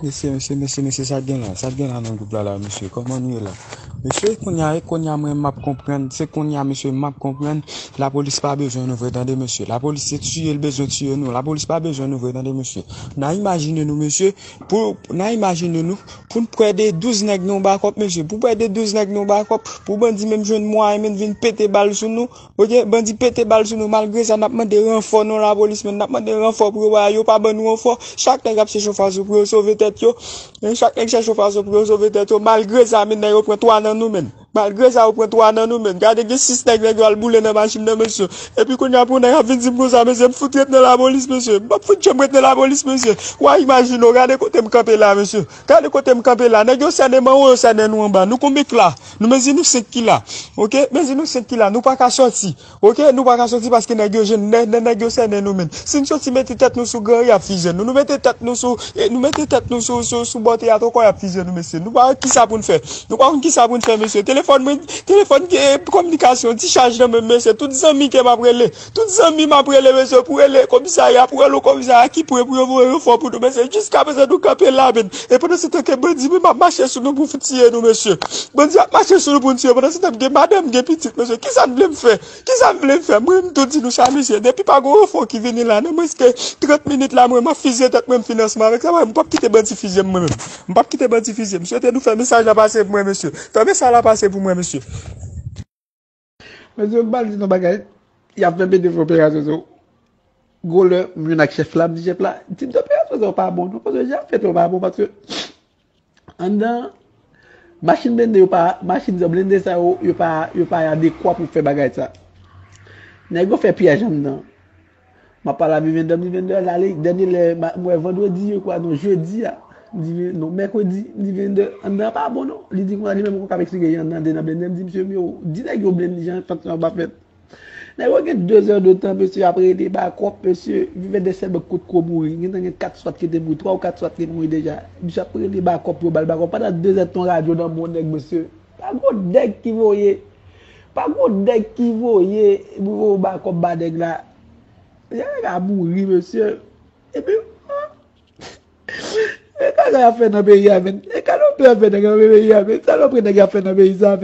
Mesye mesye mesye mesye sa gen la sa gen la nan group la la mesye koman nou ye la mesye konya e konya mwen map konprann se konya mesye map konprann la polis pa bezwen nou vre tande mesye la polis se tiye l bezwen tiye nou la polis pa bezwen nou vre tande mesye na imajine nou mesye pou na imajine nou pou n pwè de 12 nèg nan yon bakòp mesye pou pwè de 12 nèg nan yon bakòp pou bandi menm jwenn mwayen menm vin pete bal sou nou Ok bandi pete bal sou nou malgre sa nap mande ranfò non lapolis men nap mande ranfò pou yo ba yo pa ban nou ranfò chak nèg ap chèche yon fason pou yo sove tèt yo chak nèg chèche yon fason pou yo sove tèt yo malgre sa men yo pran 3 nan nou men malgre sa yo pran 3 nan nou men gade gen 6 nèg nèg yo al boule nan machin nan mesye epi kounye a pou yon nèg ap vin di m konsa mesye m fout ret nan lapolis mesye m pap fout janm ret nan lapolis mesye wa imajine w gade kote m kanpe la mesye. Gade kote m kanpe la. Nèg yo sènen m anwo, yo sènen nou anba. Nou konbe k la? Nou mezi nou 5 ki la. Ok, mezi nou 5 ki la. Nou pa ka soti. Ok, nou pa ka soti paske nèg yo jèn. Nè, nè nèg yo sènen nou menn. Si n soti mete tèt nou sou gran ri y ap fizye nou. Nou mete tèt nou sou, e, nou mete tèt nou sou, sou, sou bò teyat ankò y ap fizye nou mesye. Nou pa wè ki sa pou n fè. Nou pa konn ki sa pou n fè mesye. Telefòn mwen, telefòn, e, kominikasyon, ti chaj nan men m mesye. Tout zanmi ke m ap rele. Tout zanmi m ap rele bezwen pou rele komisè a y ap rele komisè a ki pre pou yo voye ranfò pou nou mesye jiskaprezan nou kanpe la men e pandansetan ke bandi menm ap mache sou nou pou fin tiye nou mesye bandi ap mache sou nou pou n tiye pandansetan m gen madan m gen pitit mesye kisa n vle m fè kisa n vle m fè mwen m tou di nou sa mesye depi pa gon ranfò ki vini la nan mwens ke 30 minit la mwen m ap fizye tèt mwen m fini ansanm avèk sa paske m pap kite bandi fizye m mwen menm m pap kite bandi fizye m swete nou fè mesaj la pase pou mwen mesye fè mesaj la pase pou mwen mesye. Mwen se bal di nou bagay, ya fè mete fè operasyon sou ou. Gwo lè m jwenn ak chèf la, m di chèf la, di m operasyon sa yo pa bon non, paske jan yo fèt yo pa bon paske anndan machin blende yo pa, machin sa blende sa yo, yo pa adekwa pou fè bagay sa. Nèg yo fè pyèj anndan. Map pale a Vivian Dam di Vivian Dam ale dènye lè m wè vandredi je kwa non jedi a m di Vivian non mèkredi m di Vivian Dam anndan an pa bon non li di konsa li menm li poko ap eksplike jan anndan an te nan blennde m di mesye m yo di nèg yo blenn jan tanksyon an pa fèt nèg yo gen 2 zè de tan mesye ap rele bakòp mesye Vivian Dam sèlman kot ko mouri gentan gen 4 swat ki te mouri 3 ou 4 swat te mouri deja misye ap rele bakòp yo bal bakòp pandan 2 zè de tan yon radyo nan bon nèg mesye. Pa gwo nèg ki voye Pa gwo nèg ki voye Pou yo ba kòb ba nèg la Nèg la ka mouri mesye Epi Salopri nèg yo ap fè nan peyi a menn